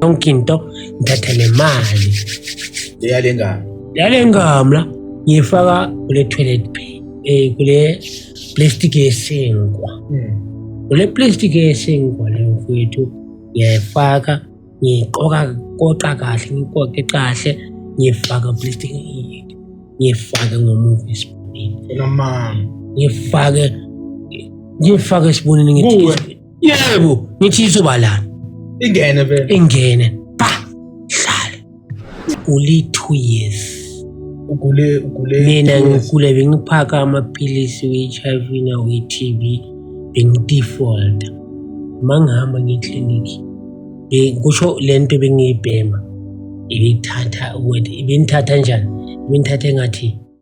yonke into ngithatha le mali leyale ngami leyale ngami la ngiyifaka kule toilet eh kule plastic yesinkwa hmm. kule plastic yesinkwa leyo mfowethu ngiyayifaka ngiqoka koqa kahle ngiqoqe kahle ngifaka plastic ngifake ngomuva isibonini enamanga ngifake ngifake isibonini ngithi yebo ngithi izoba lana ingene vele ingene uli two years ugule ugule mina ngigula bengiphaka amaphilisi we-hiv nawe-tb bengidefaulta uma ngihamba ngeklinikhi kusho le nto bengiyibhema ibithatha ukuthi ibinithatha njani ibinithatha engathi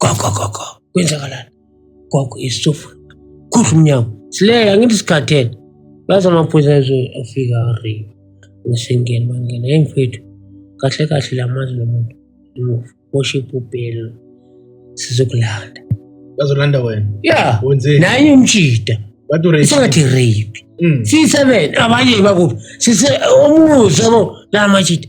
gogo gogo kwenzakalani gogo isitofu khusha umnyango sileya ngithi sikhathele bathi amaphoyisa afika re ngisengena bangena yeyi mfethu kahle kahle la mazi lo muntu imuva worship ubhelo sizokulanda bazolanda wena ya wenzeni naye umjida bathi urape isengathi rape Mm. siyi-seven abanye bakuphi sise omuzi yabo la majida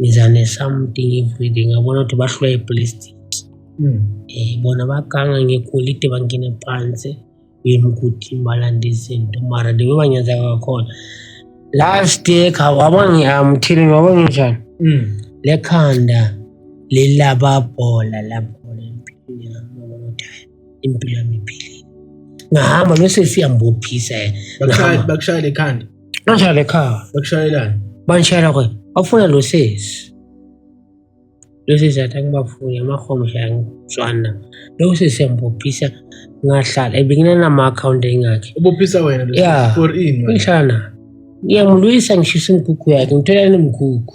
ngiza ne-something everyday ngabona ukuthi bahlwa iplastic um bona baganga ngegolide bangene phansi bemkuthi balanda izinto mara the way banyazeka kakhona last year waba ngiamthile ngoba nginjani hmm. lekhanda lelababhola labhola empilweni yami impilo yami iphilile ngahamba bese siyambophisa yena bakushayela ekhanda bashayela ekhaya bakushayelani bangishayela kwe bafuna lo sesi lo sesi athi angibafuni amahomsha angizwana loko sesi yambophisa ngahlala ebenginanama-akhawunti engakhe ubophisa wena ya ngihlala nayo ngiyamulwisa ngishisa imigughu yakhe ngithola nemigughu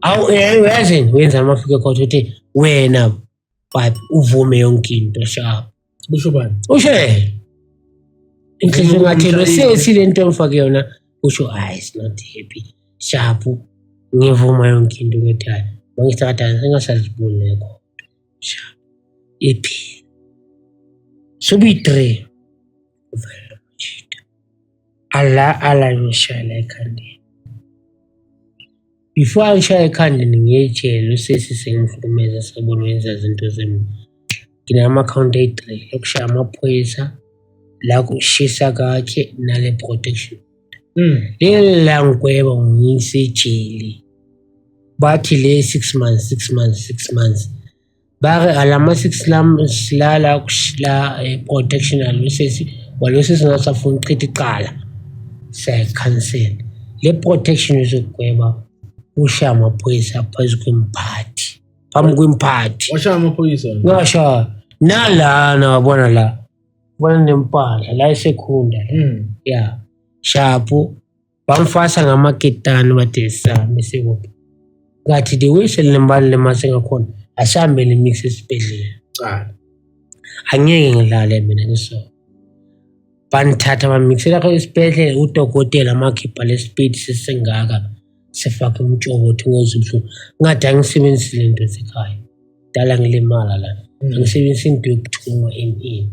awu uyazini uyenza noma afike khotha uthi wena but uvume yonke into sharp usho bani usho yena inhliziyo ingathi lo sesi le nto mfake yona usho hayi is not happy sharp ngivuma yonke into ngethaya mangisakadala sengasaziboni lekho sharp iphi sobiyi-three Allah Allah ngishayela ekhandeni. Before angishaya ekhandeni ngiyejele usisi sengihlukumeza sabona wenza izinto zemi. Nginama-account ayi-three yokushaya amaphoyisa la kushisa kakhe nale protection. Hmm. Leli la ngigweba ngiyisejele. Bathi le six months, six months, six months. Bakhe alama six lam silala kushila eh, protection alosisi walosisi ngasafuna ukuchitha iqala siyayikhansela le protection izogweba ushaya amaphoyisa phezu kwemphathi phambi kwemphathi washaya amaphoyisa ngashaya nalana wabona la bona nempahla la esekhunda la Mm. ya shapo bamfasa ngamaketani bathi sihambe sikuphi ngathi the way selilembani le mase ngakhona asihambe le mix esibhedlela ah. angeke ngidlale mina ngiso bangithatha bamixela kho esibhedlela udokotela amakhipha lesipidi sesingaka sifake umtshoko ukuthi ngoze ubuhlungu ngathi angisebenzisi le nto esekhaya dala ngilimala la mm. angisebenzisi into yokuthungwa emini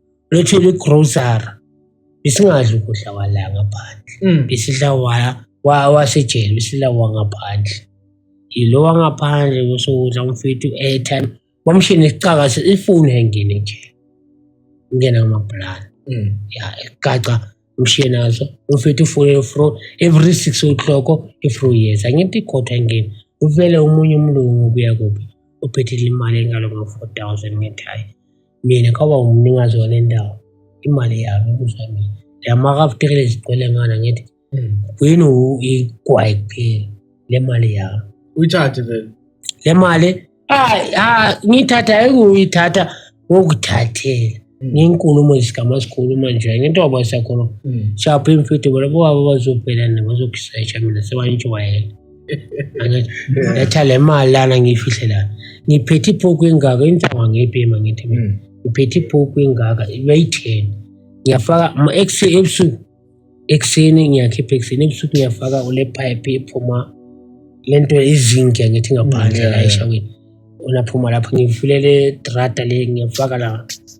lethele igrocery besingadli ukudla kwala ngaphandle mm. besidla wasejele besidla wangaphandle yilo wangaphandle kusokudla umfethu u-airtime wamshini isicaka ifoni engene nje ingena ngamabhulana mm. ya egaca umshiye nazo umfethu ufone fro every six o'clock ifro yeza ngithi ikhotha engeni uvele omunye umlungu ubuya kuphi uphethile imali engalo ngo-four thousand ngithi hayi mina kaba umnikazi wale ndawo imali yami kuzwa mina ndiyamakafutekele izigcwele ngana ngithi gcina hmm. igwayi kuphela le mali yami uyithathe vele le mali ngiyithatha ayikuyithatha ngokuthathela hmm. ngenkulumo zikamasikhuluma nje ngentoba sakhuluma hmm. shapho imfidi bona bobaba bazobhela nabo bazokusesha mina sebantshuwayela Ngatha le mali lana ngiyifihle lana. Ngiphethe ipoku engaka intsonga ngepema ngithi mina. Mm. Ngiphethe ipoku engaka ibeyi-10. Ngiyafaka ma exe ebusuku. Ekseni ngiyakhipha ekseni ebusuku ngiyafaka ule pipe ephuma lento izinke ngithi ngaphandle mm, la eshaweni. Ona phuma lapho ngivulele drata le ngiyafaka la.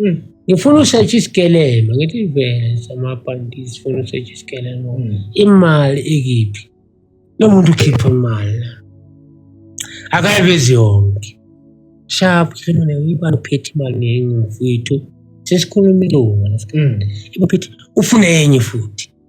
Mm. ngifuna usearch isikelelo ngithi vele samabhanti sifuna usearch isikelelo mm. imali ikiphi lo muntu ukhipha imali la akayivezi yonke sharp khona uyibani uphethe imali ngenye mfowethu sesikhuluma ilunga mm. ufune enye futhi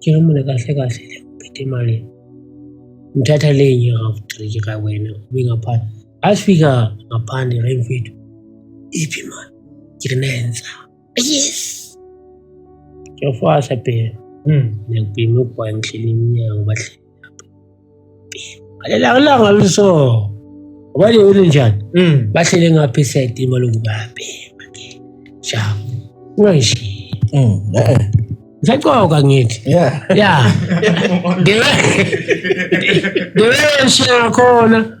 Tjela mona kahle kahle le uphethe imali. Ngithatha le nyaka futhi ka wena ube ngaphandle. Asifika ngaphandle la mfethu. Iphi imali? Ngiri nenza. Yes. Ngiyafasa phela. Hmm, ngiyakubhema ukugwayi ngihleli emnyango bahle. Ngalelanga langa luso. Ubani yini njani? Mm. Bahlele ngapha iside imali ngibambe. Shabu. Ungayishi. Mm. Eh. Ngisacoka ngithi. Yeah. Yeah. Ngiwe. Ngiwe shakona.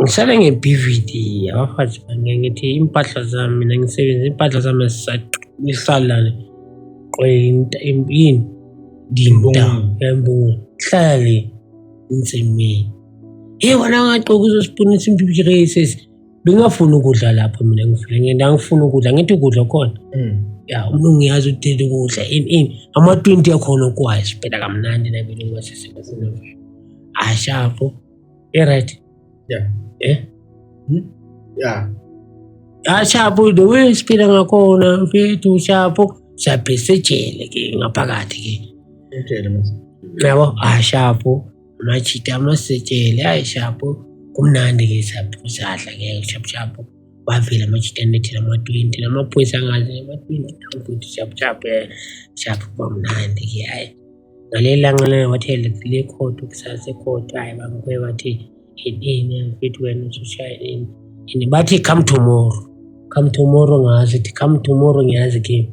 Ngihlale nge-BVD abafazi bane ngithi impahla zami mina ngisebenza impahla zami zisalane qwenta yini ndinta yambonga hlale insimini hey wena ungagqoka uzosibonisa impilo races bengafuni ukudla lapho mina ngifike ngenda ngifuna ukudla ngithi ukudla khona mm. ya umuntu ngiyazi udela ukudla in in ama 20 yakhona okwazi phela kamnandi nabini ngasise ngifuna ashapho e right yeah eh hmm? yeah ashapho the way siphila ngakhona mfethu shapho siyabhesejele ke ngaphakathi ke yabo ashapho amajita amasetshele ayi shapo kumnandi ke shapo sadla ke shapo shapo wavela amajita anethela ama-twenty namaphoyisa angazi ama-twenty futhi shapo shapo eh, shapo kwamnandi ke ayi ngaleli langa lana wathi le khodo kusasa ekhodo ayi bamkwe wathi yini mfethu wena usushaya ini and bathi come tomorrow come tomorrow ngazi ithi come tomorrow ngiyazi ke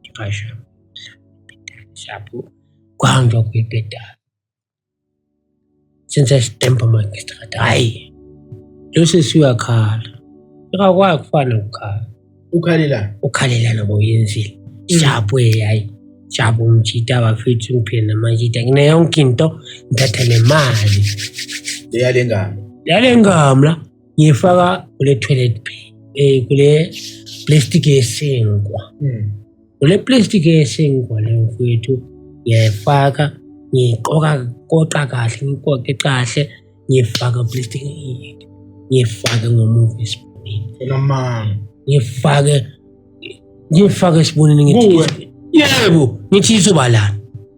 Ngipasha shapo kuhanjwa kwibhedala senza isitembu magistrate hhayi lo sisi uyakhala akakwazi kufana nokukhala ukhalela ukhalela noba uyenzile shapo hhayi shapo umjita bafethu ngiphile namajita ngineyonke into ngithatha nemali leyale ngalo leyale ngalo la ngiyifaka kule toilet eh kule plastic yesinkwa hmm. kule plastic yesinkwa le mfowethu ngiyayifaka ngiyiqoka koqa kahle ngiqoqe kahle ngiyifaka plastic ngiyifake ngomuva esibonini enamanga ngifake ngifake esibonini ngithi yebo ngithi izoba lana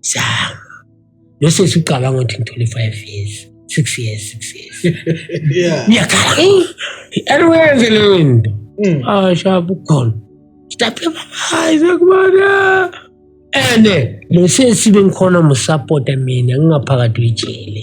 zama bese siqala ngothi ngithole five years six years six years ngiyakhala anwenze leyo nto hmm. ashaba ah, ukhona sitaphe hayi sekubona ene lesi esibe ngikhona musapota mina ngingaphakathi wejele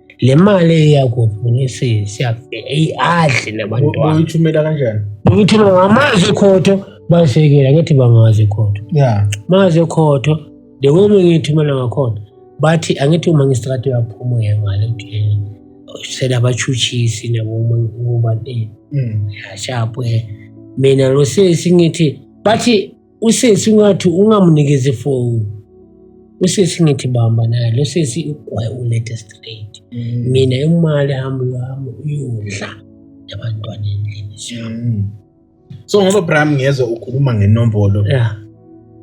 le mali eyakuphunisa siyafika adle nabantwana uyithumela kanjani uyithumela ngamazi khotho basekela ngithi bangazi khotho ya mazi khotho the way ngiyithumela ngakhona bathi angithi uma ngistrate yaphuma uyangale ukuthi sela abachuchisi nabo uma ngikuba eh mm. yashapwe mina lo sesi ngithi bathi Usisi ungathi ungamunikeza ifoni. Usisi ngithi bamba naye lo sisi ugwaye ulethe straight. Mm. Mina imali hamba uyahamba uyodla abantwana endlini siyami. Mm. So ngoba Bram ngiyezwa ukhuluma ngenombolo. Yeah.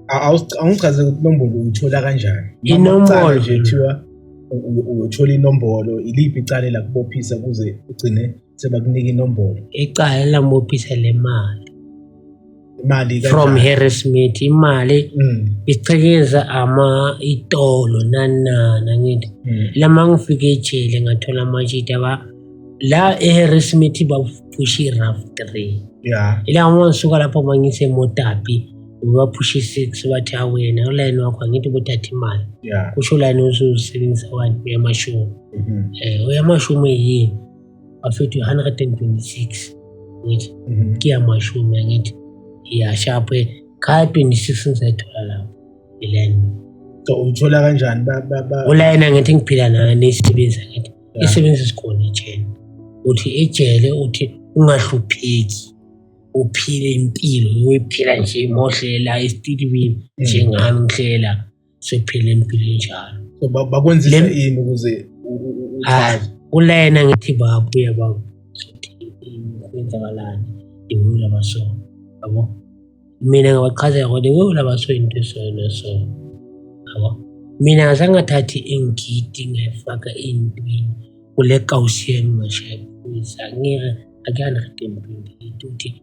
Awungichaze ukuthi inombolo uyithola kanjani? Inombolo nje kuthiwa uyothola inombolo iliphi icala lakubophisa kuze ugcine sebakunika inombolo icala lamuphisa le mali imali from Harry Smith imali mm. ichekeza ama itolo nanana ngithi mm. lama ngifike ejele ngathola amajita ba la eHarry Smith baphusha i-rough three yeah. ila uma ngisuka lapho mangise motapi ubaphusha i-six bathi awena ulayini wakho angithi bothatha imali yeah. kusho ulayini usuzisebenzisa wani uyamashumi mm -hmm. eh, uyamashumi yini bafethu 126 ngithi mhm. kiyamashumi angithi iyashapho kha 26 ngizayithola lapho ilena so uyithola kanjani ulayena ngithi ngiphila nayo neyisebenza ngithi isebenza isikhona ejele uthi ejele uthi ungahlupheki uphile impilo uyiphila nje mohle la estilibini njengami ngihlela siphila impilo enjalo so bakwenzisa yini ukuze hayi kulena ngithi baba uya baba kwenzakalani iwula baso yabo mina ngabachazela kodwa iwula baso into esona so yabo mina ngase ngathathi ingidi ngayifaka entweni kule kawusi yami ngashaya kuyisa ngeke akuyani rhedempini ukuthi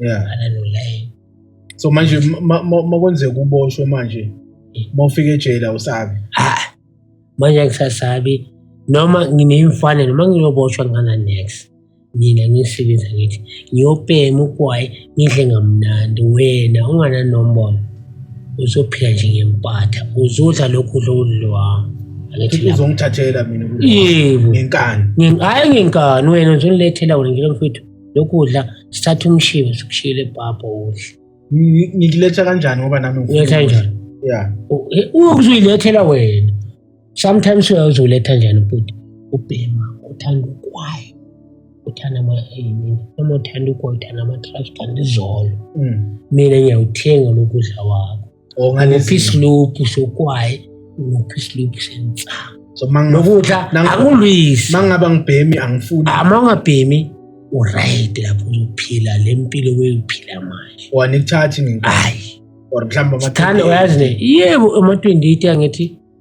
yeah ananulayo so manje makwenzeka uboshwe manje mawufika ejele awusabi ha manje ngisasabi noma ngineyimfane noma ngiyoboshwa ngana next mina ngisebenza ngithi ngiyopema ugwayi ngidle ngamnandi wena ungananombolo uzophila nje ngempatha uzodla lokhu udla ukudliwami uzongithathela mina ngenkani hhayi ngenkani wena uzongilethela wena nje lomfowethu lokudla sithatha umshibo sikushiyile bhabha udle Ngi- ngikuletha kanjani ngoba nami ngifuna uletha ukudla. njani ya uzuyilethela wena sometimes uya uzoletha njani bhuti ubhema uthanda ukwayo uthanda ama-ayini noma uthanda ukwayo uthanda ama-trash kanti izolo Mm. mina ngiyawuthenga lokudla wakho ngiphi isiluphu sokwayi ngiphi isiluphu sensangu so nokuthi akulwisi mangaba ngibhemi angifuni ama ah, ungabhemi uright lapho uzophila le mpilo weyophila manje wani kuthathi nginkhayi or mhlawumbe amathanda uyazi ne yebo ema-28 angithi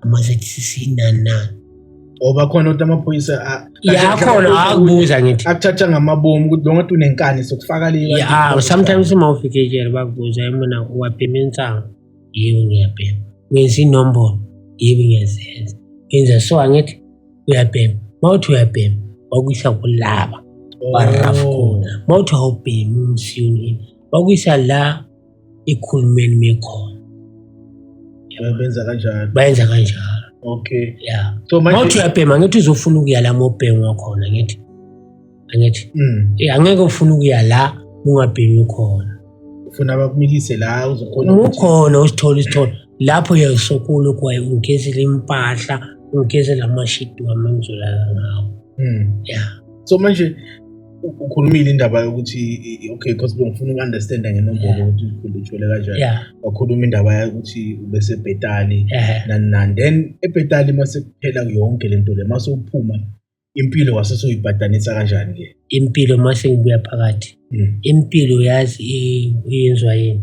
amazethi sisinana ngoba khona ukuthi amaphoyisa yakhona akubuza ngithi akuthatha ngamabomu ukuthi lo ngathi unenkani sokufaka le ya sometimes uma ufike ejele bakubuza yimona uwabhema insango yebo ngiyabhema ngenza inombolo yebo ngiyazenza ngenza so angithi uyabhema uma uthi uyabhema wakuyisa kulaba barafkona oh. uma uthi awubhemi umsiyonini wakuyisa la ikhulumeni mekhona benza kanjalo bayenza kanjalo okay ya so manje mawuthi uyabhema ngithi uzofuna ukuya la mobhengwa khona ngithi angithi mm. eh, angeke ufuna ukuya la ungabhemi khona ufuna bakumikise la uzokhona ukhona usithola isithola lapho yayisokolo kwaye ungigezela impahla ungigezela amashidi wami engizolala ngawo mm. ya so manje ukhulumile indaba yokuthi okay because bengifuna uku-understanda ngenombolo ukuthi ikhulu ithole kanjani wakhuluma indaba yokuthi ubesebhetali nani nani then ebhetali uma sekuphela yonke le nto le uma sewuphuma impilo wase soyibhadanisa kanjani-ke impilo uma sengibuya phakathi hmm. impilo yazi yenziwa yini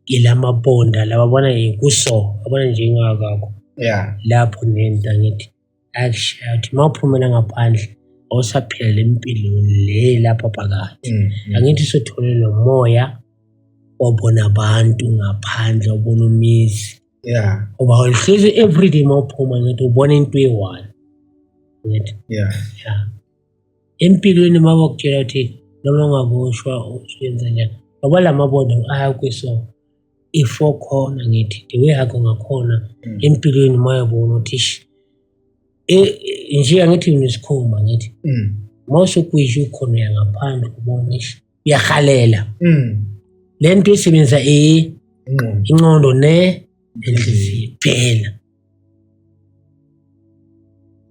ilamabonda lababona kuso abona njengakakho ya lapho nento angithi Eish, uthi uma uphumela ngaphandle awusaphilele impilo le lapha phakathi Mm, mm. angithi sothole lo moya wabona abantu ngaphandle ubona umizi Yeah, ngoba uhlezi everyday uma uphuma ngithi ubona into eyi-one ngithi yeah. ya empilweni uma bakutshela ukuthi noma ungaboshwa usuyenza njani ngoba la mabondo ayakwiso i-four khona ngithi the way akho ngakhona mm. empilweni mayabona ukuthi ish e, e, nje angithi unesikhumba ngithi mm. mose kuyisho ukhona uyangaphandle ubona ish uyahalela mm. le nto isebenzisa e inqondo ne nenhliziyo kuphela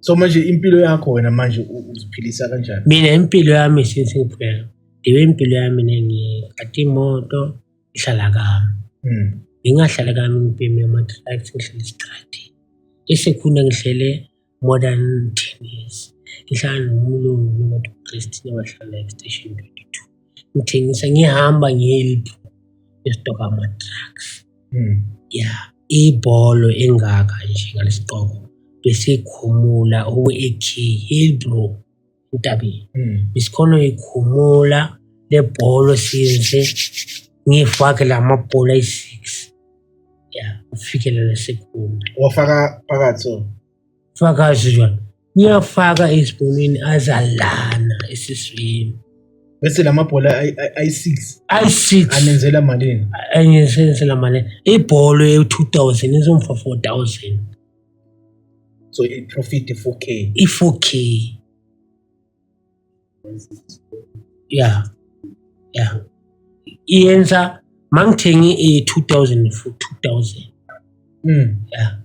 so manje impilo yakho wena manje uziphilisa kanjani mina impilo yami since ngiphela ndiwe impilo yami nengiqatha imoto ngihlala kami mm. ngingahlala kami ngibheme ama-drugs ngihlale estradini esekhona ngihlele more than ten years ngihlala nomlungu nomathi ukrist nebahlala estation twenty two ngithengisa ngihamba ngiyeliphu ngistoka ama-drugs mm. ya yeah. ibholo engaka nje ngalesiqoko besikhumula owe-ak hey bro Ntabi. Mm. Isikolo ikhumula lebholo since ngifake lamabhola ayi-six ya ufikelele sekhumula wafaka phakathi so fakazi jona ngiyafaka esibonweni azalana esiswini bese lamabhola ayi-six ayi-six anenzela malini anenzela malini ibholo ye-two thousand izomfa four thousand so iprofit i-4k i-4k ya ya iyenza mangithenge i-2000 for 2000 mm ya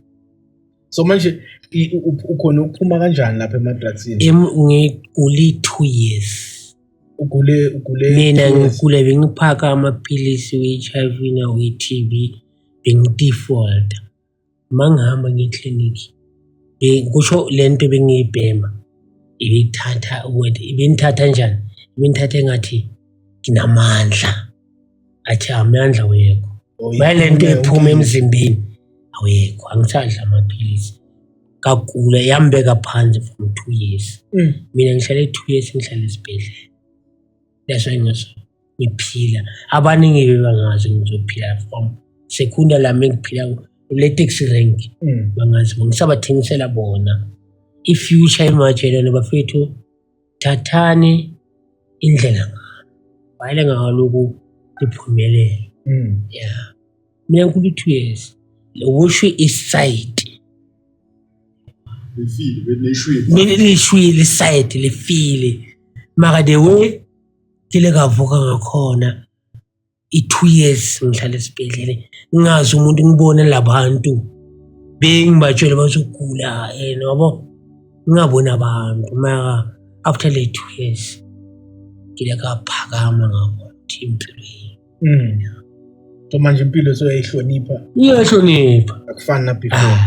so manje ukhona ukuphuma kanjani lapha emadrugsini ngigule two years ugule ugule mina ngigule bengiphaka amaphilisi we-h i v nawe-t b bengidefaulta uma ngihamba ngiye eklinikhi kusho le nto ebengiyibhema ibithatha ukuthi ibinithatha njani ibinithatha engathi nginamandla athi amandla awekho bayile nto ephuma emzimbeni awekho angisadla amaphilisi kagula yambeka phansi from two years mm. mina ngihlale two years ngihlale esibhedlela that's why ngasho ngiphila abaningi bebangazi ngizophila from sekunda lami engiphila kule taxi rank mm. bangazi ngisabathengisela bona i-future ematshelane bafethu thathani indlela wayele ngaloku liphumelele mm. ya mina nkulu two years lokusho isayidi lishwile isayidi lifile maka the way ngile ngavuka ngakhona i-two years ngihlale esibhedlele ngingazi umuntu ngibone labantu bengibatshele bazogula and wabo ngingaboni abantu maka after le two years ngile kaphakama ngabo ukuthi impilo yini Mm. So manje impilo soyayihlonipha. Iyahlonipha. Akufani na before.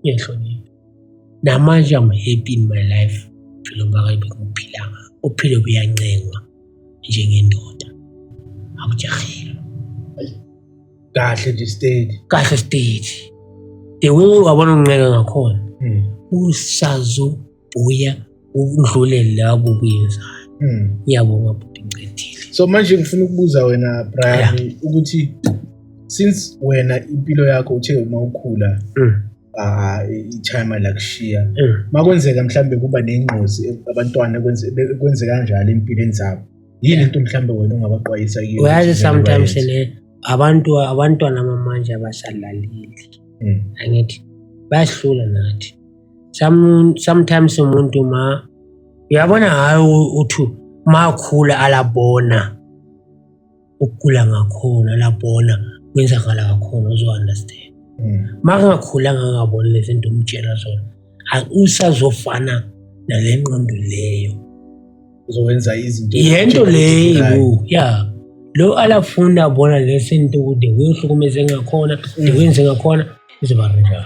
Iyahlonipha. Namanje I'm happy in my life. Philo bakayi bengiphilanga. Uphilo buyancengwa njengendoda. Awujahile. Kahle nje state. Kahle state. The way wabona uncenga ngakhona. Mm. Usazo uya ukudlule labo kuyenzayo hmm. ngiyabonga bhuti ngicedile so manje ngifuna ukubuza wena brian ukuthi since wena impilo yakho uthe uma ukhula hmm. ah, ichima lakushiya hmm. makwenzeka mhlambe kuba nengqozi abantwana kwenze kanjalo empilweni zabo yini into mhlambe wena ongabaqwayisa kiyo uyazi sometimes ne abantu abantwana mamanje abasalaleli angithi bayahlula nathi sometimes umuntu ma uyabona hayi uthi makhula alabona ukugula ngakhona alabona kwenzakala kakhona uzo-understand hmm. makungakhula ngangaboni lezi nto umtshela zona usazofana nale nqondo leyo uzowenza izinto yento leyo ya lo alafunda abona lesinto ukuthi kuyohlukumeze ngakhona hmm. ndikwenze ngakhona izoba rinjalo